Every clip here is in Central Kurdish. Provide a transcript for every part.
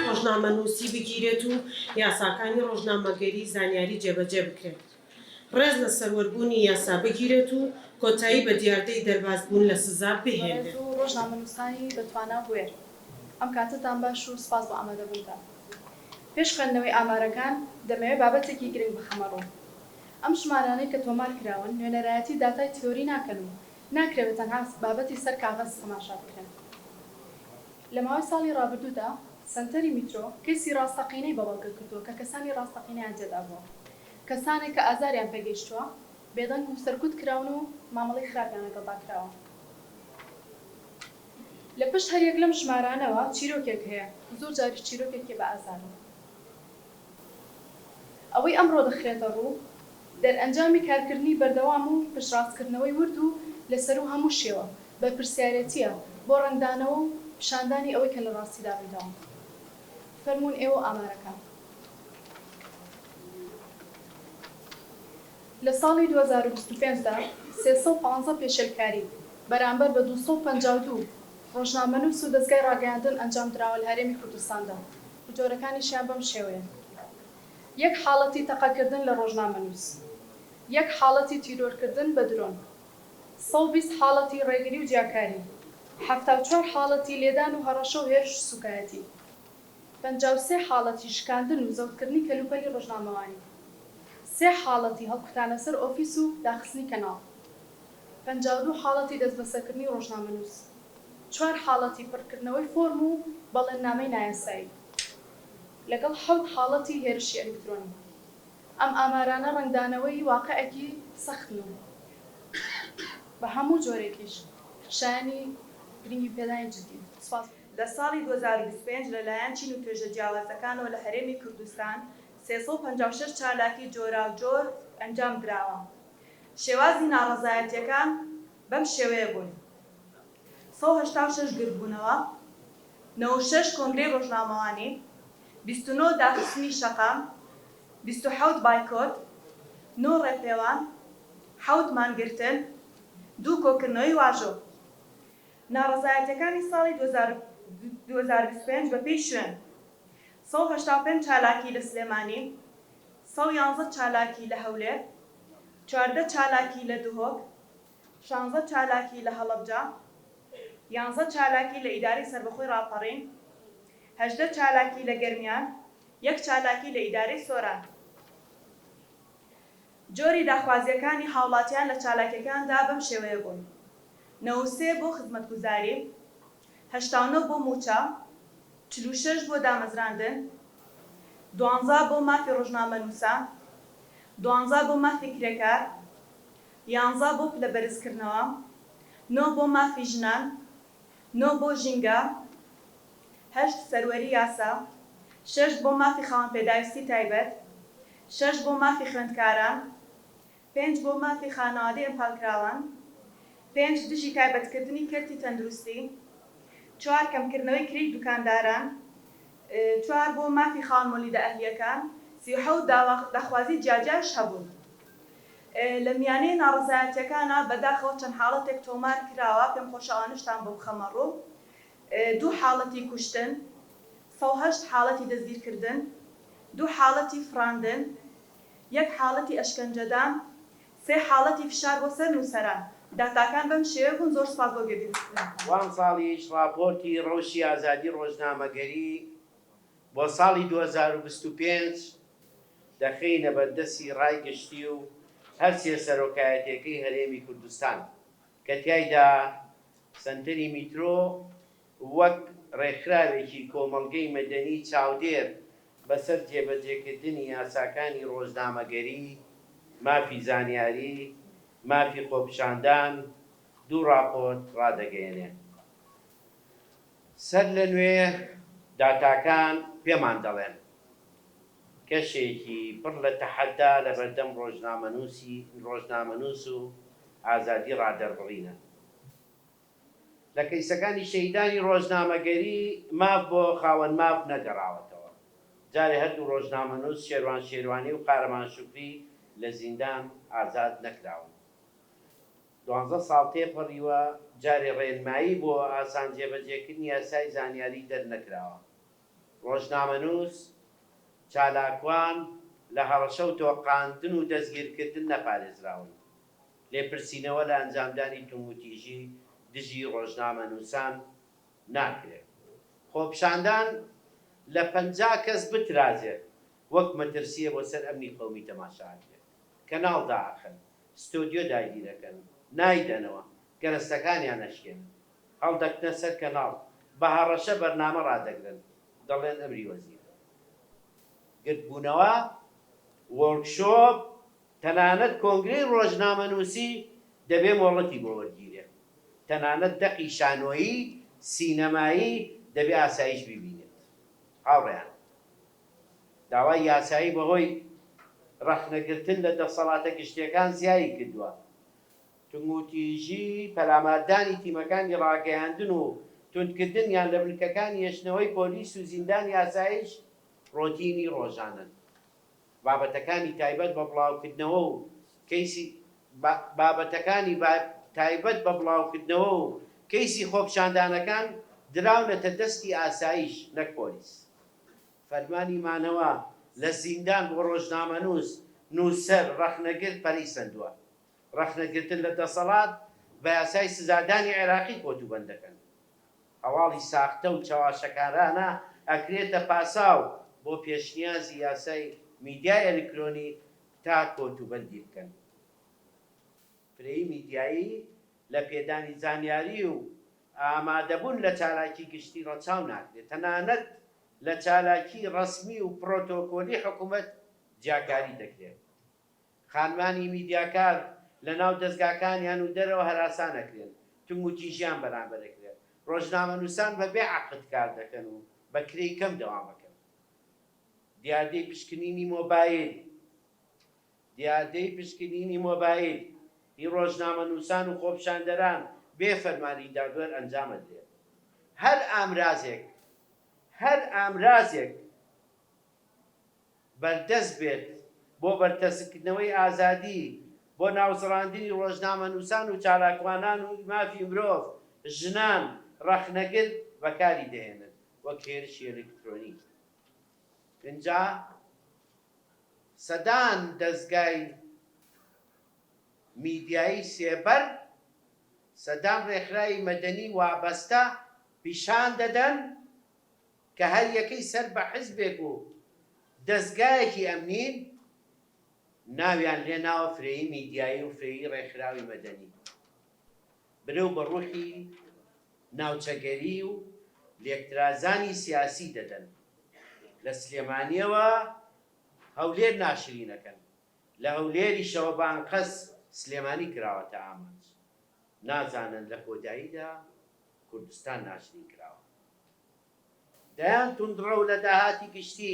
ڕۆژنامەنووسی بگیرێت و یاساکانی ڕۆژنامەگەری زانیاری جێبەجێ بکرێت، ڕێز لە سەروەربوونی یاسا بگیرێت و کۆتایی بە دیاردەی دەربازبوون لە سزا بهێنرێت. بەڕێز و ڕۆژنامەنووسانی بەتوانا و بوێر، ئەم کاتەتان باش و سپاس بۆ ئامادەبوونتان. پێش خوێندنەوەی ئامارەکان، دەمەوێت بابەتێکی گرنگ بخەمە ڕوو. ئەم ژمارانەی کە تۆمار کراون، نوێنەرایەتی داتای تیۆری ناکەن و ناکرێت بە تەنها بابەتی سەر کاغەز تەماشا بکرێن. لە ماوەی ساڵی ڕابردوودا، سەنتەری میترۆ، کەیسی ڕاستەقینەی بە بەڵگە کردووە کە کەسانی ڕاستەقینەیان تێدا بووە. کەسانێک کە ئازاریان پێ گەیشتووە، بێدەنگ و سەرکوت کراون و مامەڵەی خراپیان لەگەڵدا کراوە. لە پشت هەر یەک لەم ژمارانەوە چیرۆکێک هەیە، زۆر جاریش چیرۆکێکی بە ئازارە. ئەوەی ئەمڕۆ دەخرێتە ڕوو، دەرئەنجامی کارکردنی بەردەوام و پشتڕاستکردنەوەی ورد و لە سەروو هەموو شێوە، بەرپرسیارێتییە بۆ ڕەنگدانەوە و پیشاندانی ئەوەی کە لە ڕاستیدا ڕوویداوە. فەرموون ئێوە و ئامارەکان. لە ساڵی دوو هەزار و بیست و پێنج دا سێ سەد و پازدە پێشێلکاری بەرامبەر بە دوو سەد و پەنجا و دوو ڕۆژنامەنووس و دەزگای ڕاگەیاندن ئەنجامدراوە لە هەرێمی کوردستاندا و جۆرەکانیشیان بەم شێوەیەن، یەک حاڵەتی تەقەکردن لە ڕۆژنامەنووس، یەک حاڵەتی تیرۆرکردن بە درۆن، سەد و بیست حاڵەتی ڕێگری و جیاکاری، حەفتا و چوار حاڵەتی لێدان و هەڕەشە و هێرش و سووکایەتی. پەنجا و سێ حاڵەتی شکاندن و زەوتکردنی کەلوپەلی ڕۆژنامەوانی، سێ حاڵەتی هەڵکوتانە سەر ئۆفیس و داخستنی کەناڵ، پەنجا و دوو حاڵەتی دەستبەسەرکردنی ڕۆژنامەنووس، چوار حاڵەتی پڕکردنەوەی فۆرم و بەڵێننامەی نایاسایی، لەگەڵ حەوت حاڵەتی هێرشی ئەلیکترۆنی. ئەم ئامارانە ڕەنگدانەوەی واقعێکی سەختن و بە هەموو جۆرێکیش شایەنی گرنگیپێدانی جددین. سپاس. لە ساڵی دوو هەزار و بیست و پێنج لەلایەن چین و توێژە جیاوازەکانەوە لە هەرێمی کوردستان سێ سەد و پەنجا و شەش چالاکی جۆراوجۆر ئەنجام دراوە شێوازی ناڕەزایەتیەکان بەم شێوەیە بوون سەد و هەشتا و شەش گردبوونەوە نەوەد و شەش کۆنگرەی ڕۆژنامەوانی بیست و نۆ داخستنی شەقام بیست و حەوت بایکۆت نۆ ڕێپێوان حەوت مانگرتن دوو کۆکردنەوەی واژۆ. ناڕەزایەتیەکانی ساڵی دوو هەزار و بیست و پێنج بە پێی شوێن، سەد و هەشتا و پێنج چالاکی لە سلێمانی، سەد و یانزە چالاکی لە هەولێر، چواردە چالاکی لە دهۆک، شانزە چالاکی لە هەڵەبجە، یانزە چالاکی لە ئیدارەی سەربەخۆی ڕاپەڕین، هەژدە چالاکی لە گەرمیان، یەک چالاکی لە ئیدارەی سۆران. جۆری داخوازییەکانی هاوڵاتیان لە چالاکییەکاندا بەم شێوەیە بوون، نەوەد و سێ بۆ خزمەتگوزاری، هەشتا و نۆ بۆ مووچە، چل و شەش بۆ دامەزراندن، دوانزە بۆ مافی ڕۆژنامەنووسان، دوانزە بۆ مافی کرێکار، یانزە بۆ پلەبەرزکردنەوە، نۆ بۆ مافی ژنان، نۆ بۆ ژینگە، هەشت سەروەری یاسا، شەش بۆ مافی خاوەن پێداویستی تایبەت، شەش بۆ مافی خوێندکاران، پێنج بۆ مافی خانەوادەی ئەنفالکراوان، پێنج دژی تایبەتکردنی کەرتی تەندروستی، چوار کەمکردنەوەی کرێی دوکانداران، چوار بۆ مافی خاوەن مۆلیدە ئەهلییەکان، سی و حەوت داوا داخوازی جیاجیاش هەبوون. لە میانەی ناڕەزایەتییەکانا بەداخەوە چەند حاڵەتێک تۆمار کراوە، پێم خۆشە ئەوانەشتان بۆ بخەمە ڕوو. دوو حاڵەتی کوشتن، سەد و هەشت حاڵەتی دەستگیرکردن، دوو حاڵەتی فڕاندن، یەک حاڵەتی ئەشکەنجەدان، سێ حاڵەتی فشار بۆ سەر نووسەران. داتاکان بەم شێوە بوون، زۆر سوپاس بۆ گوێبیستنەوە. و ئەمساڵیش ڕاپۆرتی ڕەوشی ئازادی ڕۆژنامەگەری بۆ ساڵی دوو هەزار و بیست و پێنج دەخەینە بەردەستی ڕای گشتی و هەرسێ سەرۆکایەتیەکەی هەرێمی کوردستان. کە تیایدا سەنتەری میترۆ وەک ڕێکخراوێکی کۆمەڵگەی مەدەنی چاودێر بەسەر جێبەجێکردنی یاساکانی ڕۆژنامەگەری، مافی زانیاری، مافی خۆپیشاندان دوو ڕاپۆرت ڕادەگەیەنێت. سەرلەنوێ داتاکان پێمان دەڵێن کەشێکی پڕ لە تەحەدا لەبەردەم ڕۆژنامەنووسی ڕۆژنامەنووس و ئازادی ڕادەربڕینە. لە کەیسەکانی شەهیدانی ڕۆژنامەگەری ماف بۆ خاوەن ماف نەگەڕاوەتەوە. جارێ هەردوو ڕۆژنامەنووس شێروان شێروانی و قارەمان شوکری لە زیندان ئازاد نەکراون. دوانزە ساڵ تێپەڕیوە جارێ ڕێنمایی بۆ ئاسان جێبەجێکردنی یاسای زانیاری دەرنەکراوە. ڕۆژنامەنووس، چالاکوان لە هەڕەشە و تۆقاندن و دەستگیرکردن نەپارێزراون. لێپرسینەوە لە ئەنجامدانی توندوتیژی دژی ڕۆژنامەنووسان ناکرێت. خۆپیشاندان لە پەنجا کەس بترازێت وەک مەترسییە بۆ سەر ئەمنی قەومی تەماشا ئەکرێت. کەناڵ دائەخەن، ستۆدیۆ داگیرئەکەن، نایدەنەوە، گەرەستەکانیان ئەشکێنن. هەڵدەکتنە سەر کەناڵ بە هەڕەشە بەرنامە ڕادەگرن دەڵێن ئەمری وەزیر گردبوونەوە وۆرک شۆپ تەنانەت کۆنگرەی ڕۆژنامەنووسی دەبێ مۆڵەتی بۆ وەرگیرێ تەنانەت دەقی شانۆیی سینەمایی دەبێ ئاسایش بیبینێت هاوڕێیان داوای یاسایی بەهۆی ڕەخنەگرتن لە دەسەڵاتە گشتیەکان زیایی کردووە توندوتیژی، پەلاماردانی تیمەکانی ڕاگەیاندن و توندکردنیان لە بنکەکانی هێشتنەوەی پۆلیس و زیندانی ئاسایش ڕۆتینی ڕۆژانەن. بابەتەکانی تایبەت بە بڵاوکردنەوە و کەیسی بابەتەکانی تایبەت بە بڵاوکردنەوە و کەیسی خۆپیشاندانەکان دراونەتە دەستی ئاسایش نەک پۆلیس. فەرمانی مانەوە لە زیندان بۆ ڕۆژنامەنووس، نووسەر، ڕەخنەگر پەرەی سەندووە. ڕەخنەگرتن لە دەسەڵات بە یاسای سزادانی عێراقی کۆتوبەند دەکەن. هەواڵی ساختە و چەواشەکارانە ئەکرێتە پاساو بۆ پێشنیازی یاسای میدیای ئەلیکرۆنی تا کۆتوبەندی بکەن. فرەیی میدیایی لە پێدانی زانیاری و ئامادەبوون لە چالاکی گشتی ڕەچاو ناکرێت، تەنانەت لە چالاکی ڕەسمی و پرۆتۆکۆلی حکومەت جیاکاری دەکرێت. خانمانی میدیاکار لە ناو دەزگاکانیان و دەرەوە هەراسان ئەکرێن، توندوتیژیان بەرامبەر ئەکرێت، ڕۆژنامەنووسان بە بێ عەقد کار دەکەن و بە کرێی کەم دەوام ئەکەن. دیاردەی پشکنینی مۆبایل دیاردەی پشکنینی مۆبایل هی ڕۆژنامەنووسان و خۆپیشاندەران بێ فەرمانی دادوەر ئەنجام ئەدرێت. هەر ئامرازێک هەر ئامرازێک. بەردەست بێت بۆ بەرتەسککردنەوەی ئازادی، بۆ ناوزڕاندنی ڕۆژنامەنووسان و چالاکوانان و مافی مرۆڤ، ژنان، ڕەخنەگر بەکاری دەهێنن وەک هێرشی ئەلکترۆنیکی. ئینجا سەدان دەزگای میدیایی سێبەر، سەدان ڕێکخراوی مەدەنی وابەستە پیشان دەدەن، کە هەریەکەی سەر بە حزبێک و دەزگایەکی ئەمنین، ناویان لێ ناوە فرەیی میدیایی و فرەیی ڕێکخراوی مەدەنی. برەو بە ڕوحی ناوچەگەری و لێکترازانی سیاسی دەدەن. لە سلێمانییەوە هەولێر ناشرینەکەن، لە هەولێریشەوە بە ئەنقەست سلێمانی کراوەتە ئامانج. نازانن لە کۆداییدا کوردستان ناشرین کراوە. دەیان توندڕەو لە داهاتی گشتی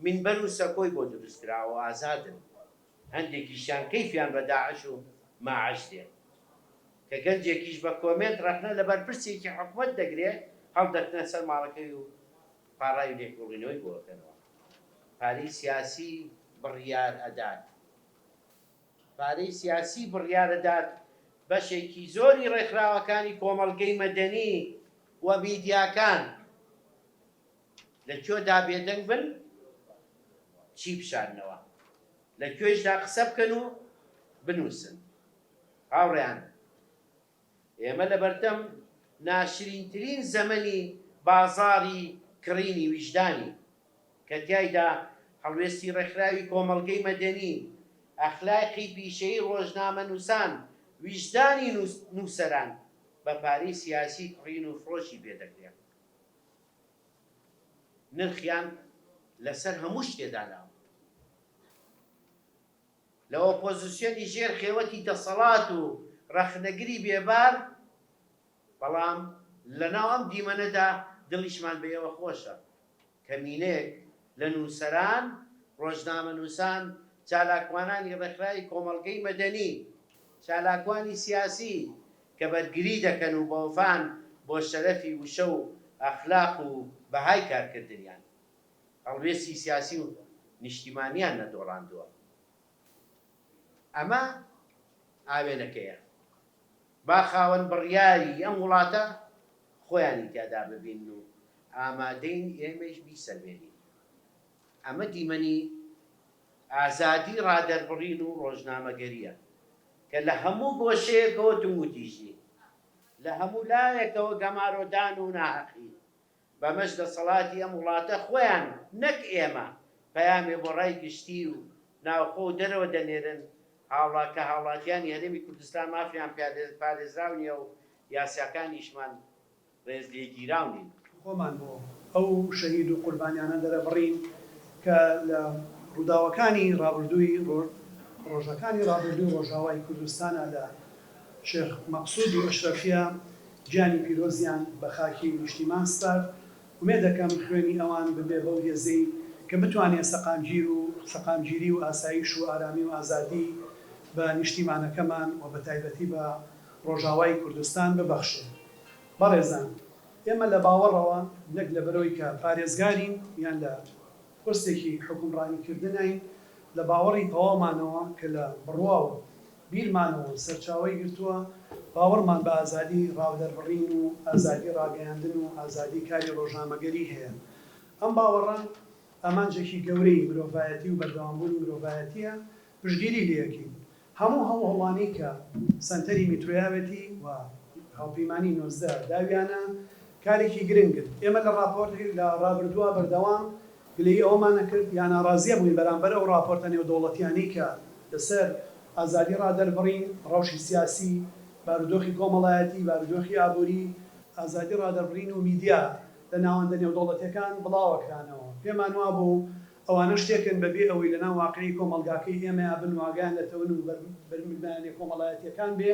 مینبەر و سەکۆی بۆ دروستکراوە و ئازادن، هەندێکیشیان کەیفیان بە داعش و ماعش دێ. کە گەنجێکیش بە کۆمێنت ڕەخنە لە بەرپرسێکی حکومەت دەگرێ، هەڵدەکتنە سەر ماڵەکەی و پاڕاوی لێکۆڵینەوەی بۆ ئەکەنەوە. پارەی سیاسی بڕیار ئەدات. پارەی سیاسی بڕیاردەدات بەشێکی زۆری ڕێکخراوەکانی کۆمەڵگەی مەدەنی و میدیاکان لە کوێدا بێدەنگ بن چی بشارنەوە لە کوێیشدا قسە بکەن و بنووسن هاوڕێیان. ئێمە لە بەردەم ناشرینترین زەمەنی بازاڕی کڕینی ویژدانین، کە تیایدا هەڵوێستی ڕێکخراوی کۆمەڵگەی مەدەنی، ئەخلاقی پیشەیی ڕۆژنامەنووسان، ویژدانی نووسەران بە پارەی سیاسی کڕین و فرۆشی پێ دەکرێ. نرخیان لەسەر هەموو شتێ داناوە. لە ئۆپۆزسیۆنی ژێر خێوەتی دەسەڵات و ڕەخنەگری بێبار، بەڵام لە ناو ئەم دیمەنەدا دڵیشمان بە ئێوە خۆشە، کەمینەیەک لە نووسەران، ڕۆژنامەنووسان، چالاکوانانی ڕێکخراوی کۆمەڵگەی مەدەنی، چالاکوانی سیاسی کە بەرگری دەکەن و بەوەفان بۆ شەرەفی وشە و ئەخلاق و بەهای کارکردنیان. هەڵوێستی سیاسی و نیشتیمانیان نەدۆڕاندووە. ئەمە ئاوێنەکەیە. با خاوەن بڕیاری ئەم وڵاتە خۆیانی تیادا ببین و ئامادەین ئێمەیش بیسەلمێنین. ئەمە دیمەنی ئازادی ڕادەربڕین و ڕۆژنامەگەرییە کە لە هەموو گۆشەیەکەوە توندوتیژی، لە هەموو لایەکەوە گەمارۆدان و ناهەقی بەمەش دەسەڵاتی ئەم وڵاتە خۆیان نەک ئێمە پەیامێ بۆ ڕای گشتی و ناوخۆ و دەرەوە دەنێرن هاوڵا کە هاوڵاتیانی هەرێمی کوردستان مافیان پیادێ پارێزراو نیە و یاساکانیشمان ڕێز لێگیراو نین. خۆمان بۆ ئەو شەهید و قوربانیانە دەرەبڕین کە لە ڕووداوەکانی ڕابردووی ڕۆ ڕۆژەکانی ڕابردووی ڕۆژاوای کوردستانا لە شێخ مەقسود و ئەشرەفیە گیانی پیرۆزیان بە خاکی نیشتیمان سپارد، ئومێدەکەم خوێنی ئەوان ببێ بەو هێزەی کە بتوانێ سەقامگیر و سەقامگیری و ئاسایش و ئارامی و ئازادی بە نیشتیمانەکەمان و بەتایبەتی بە ڕۆژاوای کوردستان ببەخشێ. بەڕێزان ئێمە لە باوەڕەوە نەک لە بەرۆی کە پارێزگارین یان لە پۆستێکی حوکمڕانیکردناین، لە باوەڕی تەواومانەوە کە لە بڕوا و بیرمانەوە و سەرچاوەی گرتووە، باوەڕمان بە ئازادی ڕاودەربڕین و ئازادی ڕاگەیاندن و ئازادی کاری ڕۆژنامەگەری هەیە. ئەم باوەڕە ئامانجێکی گەورەی مرۆڤایەتی و بەردەوامبوونی مرۆڤایەتییە، پشتگیری لێکەین. هەموو هەوڵانی کە سەنتەری میترۆیاوێتی و هاوپەیمانی نۆزدە داویانە، کارێکی گرنگن. ئێمە لە ڕاپۆرت لە ڕابردووە بەردەوام گلەیی ئەوەمان نەکرد یا ناڕازییە بووین بەرامبەر ئەو ڕاپۆرتە نێودەوڵەتییانەی کە لەسەر ئازادی ڕادەربڕین، ڕەوشی سیاسی، بارودۆخی کۆمەڵایەتی، بارودۆخی ئابووری، ئازادی ڕادەربڕین و میدیا لە ناوەندە نێودەوڵەتییەکان بڵاوە کرانەوە. پێمان وابوو ئەوانە شتێکن بە بێ ئەوەی لەناو واقیعی کۆمەڵگاکەی ئێمەیا بن واگەیان لە تەون و بەرململانێ کۆمەڵایەتییەکان بێ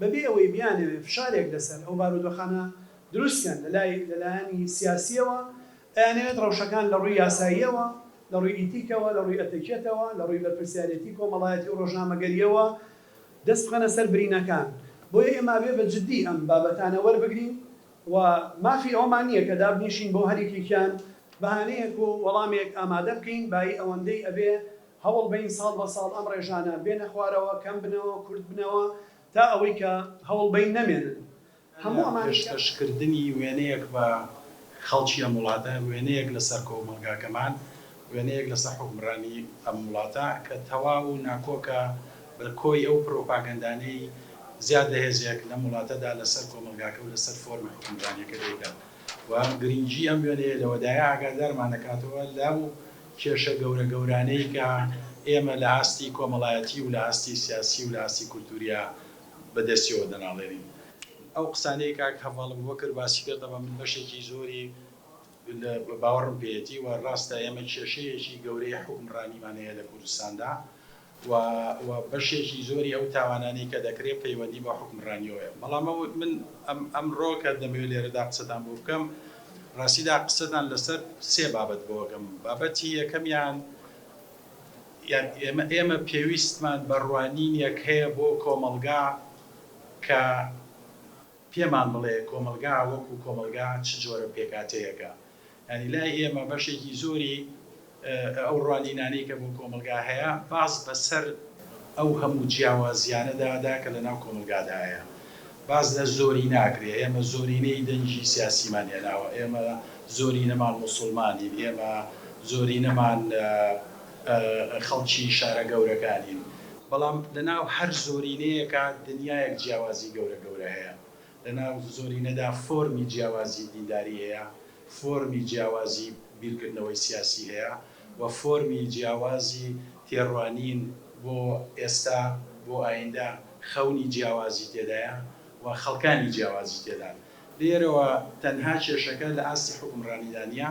بەبێ ئەوەی بیانەوێ فشارێک لەسەر ئەو بارودۆخانە دروست بکەن لەلای لەلایەنی سیاسییەوە، ئەیانەوێت ڕەوشەکان لەڕووی یاساییەوە، لەڕووی ئیتیکەوە، لەڕووی ئەتەکێتەوە، لەڕووی بەرپرسیارێتی کۆمەڵایەتی و ڕۆژنامەگەرییەوە دەست بخەنە سەر برینەکان، بۆیە ئێمە ئەبێ بە جددی ئەم بابەتانە وەربگرین و مافی ئەوەمان نییە کە دابنیشین بۆ هەر یەکێکیان بەهانەیەک و وەڵامێک ئامادە بکەین، بایی ئەوەندەی ئەبێ هەوڵ بەین ساڵ بە ساڵ ئەم ڕێژانە بێنە خوارەوە، کەم بنەوە، کورت بنەوە تا ئەوەی کە هەوڵ بەین نەمێنن. هەموو ئەمانەی کە. پێشکەش کردنی وێنەیەک بە خەڵکی ئەم وڵاتە، وێنەیەک لە سەر کۆمەڵگاکەمان، وێنەیەک لە سەر حوکمڕانی ئەم وڵاتە کە تەواو و ناکۆکە بە کۆی ئەو پرۆپاگەندانەی زیاد لە هێزێک لەم وڵاتە دا لە سەر کۆمەڵگاکە و لە سەر فۆرمی حوکمڕانیەکە دەیکات و گرینگی ئەم وێنەیە لەوەدایە ئاگادارمان دەکاتەوە لەو کێشە گەورە گەورانەی کە ئێمە لە ئاستی کۆمەڵایەتی و لە ئاستی سیاسی و لە ئاستی کولتورییا بە دەستیەوە دەناڵێنین. ئەو قسانەی کاک هەڤاڵ ئەبوبەکر باسی کرد ئەمە من بەشێکی زۆری باوەڕم پێیەتی و ڕاستە ئێمە کێشەیەکی گەورەی حوکمڕانیمان هەیە لە کوردستاندا و و بەشێکی زۆری ئەو تاوانانەی کە دەکرێت پەیوەندی بە حوکمڕانیەوە هەیە بەڵام ئەو من ئەم ئەمڕۆ کە دەمەوێت لێرەدا قسەتان بۆ بکەم ڕاستیدا قسەتان لەسەر سێ بابەت بۆ بکەم بابەتی یەکەمیان یان ئێمە ئێمە پێویستمان بە ڕوانینێک هەیە بۆ کۆمەڵگا کە پێمان بڵێ کۆمەلگا وەکو کۆمەلگا چ جۆرە پێکاتەیەکە یانی لای ئێمە بەشێکی زۆری ئەو ڕوانینانەی کە بۆ کۆمەڵگا هەیە باز بە سەر ئەو هەموو جیاوازیانەدا دا کە لە ناو کۆمەڵگادا هەیە باز لە زۆری ناکرێ، ئێمە زۆرینەی دەنگی سیاسیمان هێناوە، ئێمە زۆرینەمان موسوڵمانین، ئێمە زۆرینەمان خەڵکی شارە گەورەکانین، بەڵام لە ناو هەر زۆرینەیەکا دنیایەک جیاوازی گەورە گەورە هەیە، لەناو زۆرینەدا فۆرمی جیاوازی دینداری هەیە، فۆرمی جیاوازی بیرکردنەوەی سیاسی هەیە و فۆرمی جیاوازی تێڕوانین بۆ ئێستا، بۆ ئاییندە خەونی جیاوازی تێدایە و خەڵکانی جیاوازی تێدان. لێرەوە تەنها کێشەکە لە ئاستی حوکمڕانیدا نییە،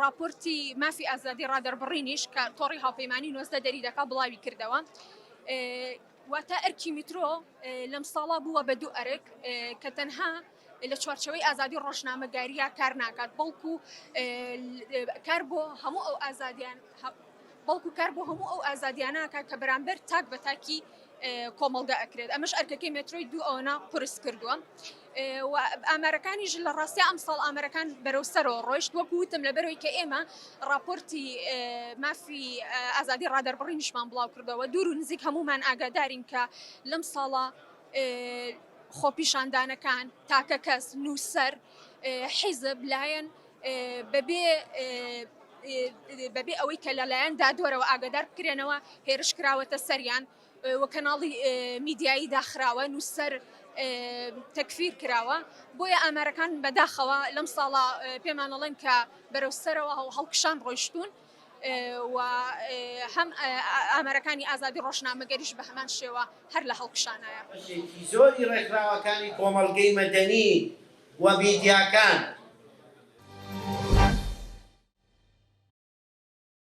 ڕاپۆرتی مافی ئازادی ڕادەربڕینیش کە تۆڕی هاوپەیمانی نۆزدە دەریدەکا بڵاوی کردەوە، واتە ئەرکی میترۆ لەم ساڵە بووە بە دوو ئەرک کە تەنها لە چوارچەوەی ئازادی ڕۆژنامەگاریا کار ناکات بەڵکو کار بۆ هەموو ئەو ئازادیان بەڵکو کار بۆ هەموو ئەو ئازادیانە کە بەرامبەر تاک بە تاکی کۆمەڵگە ئەکرێت ئەمەش ئەرکەکەی مێترۆی دوو ئەوەنە قورس کردووە و ئامارەکانیش لە ڕاستە ئەم ساڵ ئامارەکان بەرەو سەرەوە ڕۆیشت وەک وتم لە بەرەوەی کە ئێمە راپۆرتی مافی ئازادی ڕادەربڕینیشمان بڵاو کردەوە دوور و نزیک هەمومان ئاگادارین کە لەم ساڵە خۆپیشاندانەکان تاکە کەس نووسەر حیزب لایەن بەبێ ئەوەی کە لەلایەن دادوەرەوە ئاگادار بکرێنەوە هێرش کراوەتە سەریان و کەناڵی میدیایی داخراوە نووسەر تەکفیر کراوە بۆیە ئامارەکان بەداخەوە لەم ساڵە پێمانەڵێن کە بەرەو سەرەوە هەڵکشان ڕۆیشتون و هەم ئامارەکانی ئازادی ڕۆژنامەگەریش بە هەمان شێوە هەر لە هەڵکشانایە. بەشێکی زۆری ڕێکخراوەکانی کۆمەڵگەی مەدەنی و میدیاکان.